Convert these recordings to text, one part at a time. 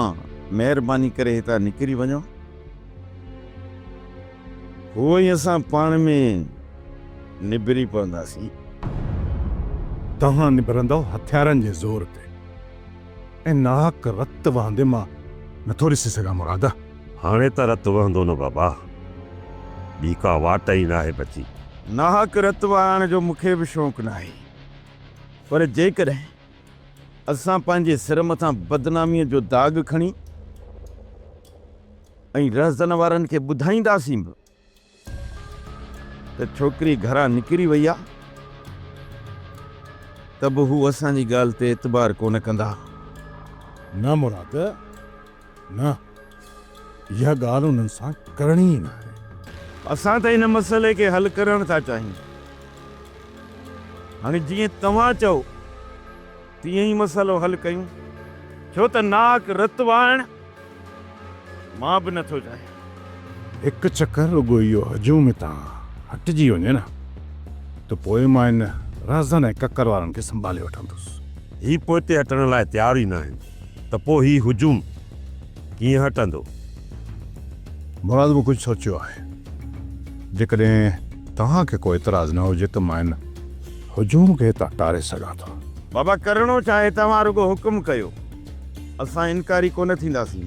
آن مهرباني ڪري هتان نڪري وڃو. هو ۽ اسان پاڻ ۾ نبري پونداسين. توهان نبرندؤ هٿيارن جي زور تي ۽ ناحق رت وهندي مان نٿو ڏسي سگهان مراده. هاڻي ته رت وهندو نه بابا. ٻي ڪا واٽ ئي ناهي بچي. ناحق رت وهائڻ جو مون کي به شوق ناهي. پر جيڪڏهن اسان پنهنجي سر مٿان بدناميء جو داغ کڻي ۽ رهزن وارن کي ٻڌائينداسين به ته ڇوڪري گهران نڪري وئي آهي ته به هو اسان جي ڳالهه تي اعتبار ڪونه ڪندا. نه مراد! نه، اها ڳالهه انهن سان ڪرڻي ئي ناهي. اسان ته هن مسئلي کي حل ڪرڻ ٿا چاهيون. هاڻي جيئن توهان چئو تيئن ئي مسئلو حل ڪيون. ڇو ته ناڪ رت وائڻ مان به نه ٿو چاهيان. هڪ چڪر رڳو اهو هجوم هتان هٽجي وڃي نه ته پوء مان ان رهزن ۽ ڪڪر وارن کي سنڀالي وٺندس. هي پوئتي هٽڻ لاء تيار ئي ناهن. ته پوء هي هجوم ڪيئن هٽندو؟ مراد به ڪجهه سوچيو آهي. جيڪڏهن توهان کي ڪو اعتراض نه هجي ته مان هن هجوم کي هتان ٽاري سگهان ٿو. بابا ڪرڻو ڇا آهي توهان رڳو حڪم ڪيو اسان انڪاري ڪونه ٿينداسين.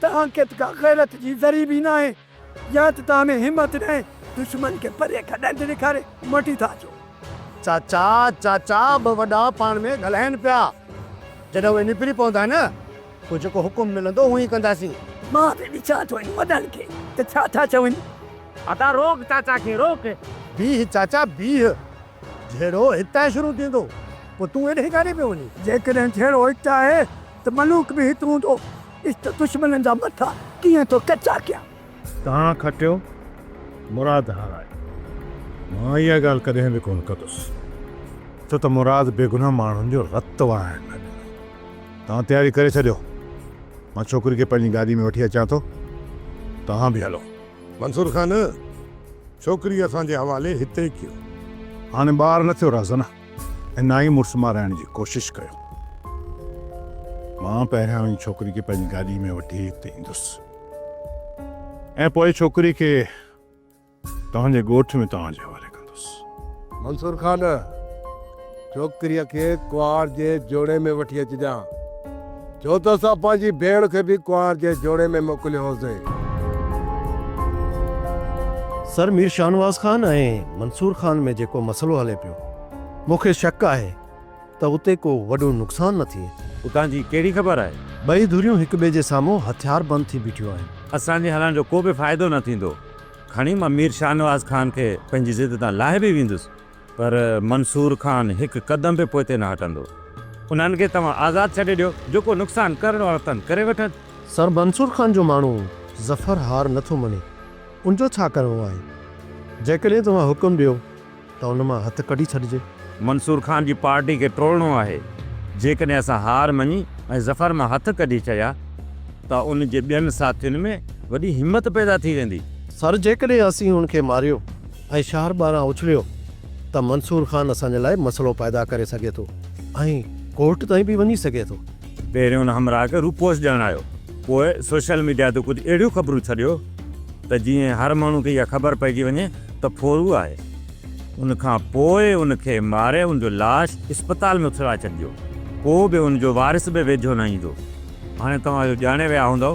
توهان کي ته ڪا غيرت جي ذري به ناهي يا ته توهان ۾ همت ناهي دشمن کي پري کڏن تي ڏيکاري مٽي ٿا اچو. چاچا چاچا ٻه وڏا پاڻ ۾ ڳالهائين پيا. جڏهن اهي نبري پوندا نه پوء جيڪو حڪم ملندو اهو ئي ڪنداسين. مان به ڏسان ٿو انهن وڏن کي ته ڇا ٿا چون. ادا روڪ چاچا کي روڪ. بيهه چاچا بيهه. جهيڙو هتان شروع ٿيندو پوء تون هيڏهن ڪاڏي پيو وڃين. جيڪڏهن جهيڙو هت آهي ته ملوڪ به هت هوندو، عشت دشمنن جا مٿا ڪيئن ٿو ڪچا ڪيان. تان کٽيو مراد هارايو. مان اها ڳالهه ڪڏهن به ڪونه ڪندس، ڇو ته مراد بيگناهه ماڻهن جو رت وهائڻ نه ڏنو. تان تياري ڪري ڇڏيو، مان ڇوڪري کي پنهنجي گاڏي ۾ وٺي اچان ٿو، توهان به هلو. منصور خان، ڇوڪري اسان جي حوالي هتي ڪيو. هاڻي ٻار نه ٿيو رهزنه. ۽ نه ئي مڙس مارائڻ جي ڪوشش ڪيو. مان پهريان ان ڇوڪري کي پنهنجي گاڏيء ۾ وٺي هت ايندس ۽ پوء ڇوڪري کي توهان جي ڳوٺ ۾ توهان جي حوالي ڪندس. منصور خان! ڇوڪريء کي ڪهاڙ جي جوڻي ۾ وٺي اچجان. ڇو ته اسان پنهنجي ڀيڻ کي به ڪنوار جي جوڙي ۾ موڪليو هوسين. سر مير شاهنواز خان ۽ منصور خان ۾ جيڪو مسئلو هلي پيو، مون کي شڪ آهي ته اتي ڪو وڏو نقصان نه ٿئي. اتان جي ڪهڙي خبر آهي؟ ٻئي ڌريون هڪ ٻئي جي سامهون هٿياربند ٿي بيٺيون آهن. اسان جي هلڻ جو ڪو به فائدو نه ٿيندو. کڻي مان مير شاهنواز خان کي پنهنجي ضد تان لاهي به ويندس. پر منصور خان هڪ قدم به پوئتي نه هٽندو. انهن کي توهان آزاد ڇڏي ڏيو، جيڪو نقصان ڪرڻو اٿن ڪري وٺن. سر منصور خان جو ماڻهو ظفر هار نه ٿو مڃي، ان جو ڇا ڪرڻو آهي؟ جيڪڏهن توهان حڪم ڏيو ته ان مان هٿ ڪڍي ڇڏجي. منصور خان جي پارٽي کي ٽوڙڻو آهي، جيڪڏهن اسان هار مڃي ۽ ظفر مان هٿ ڪڍي ڇڏيا ته ان جي ٻين ساٿين ۾ وڏي همت پيدا ٿي ويندي. سر جيڪڏهن اسين هن کي ماريو ۽ شهر ٻاهران اڇليو ته منصور خان اسان جي لاء مسئلو پيدا ڪري سگهي ٿو ۽ ڪورٽ تائين به وڃي سگهي ٿو. پهريون هن همراهه کي روپوش ڏيڻ آيو، پوء سوشل ميڊيا تي ڪجهه اهڙيون خبرون ڇڏيو ته جيئن هر ماڻهو کي اها خبر پئجي وڃي ته ڦورو آهي. ان کان پوء ان کي ماري ان جو لاش اسپتال ۾ اڇلائي ڇڏجو، ڪو به ان جو وارث به ويجهو نه ايندو. هاڻي توهان اهو ڄاڻي ويا هوندؤ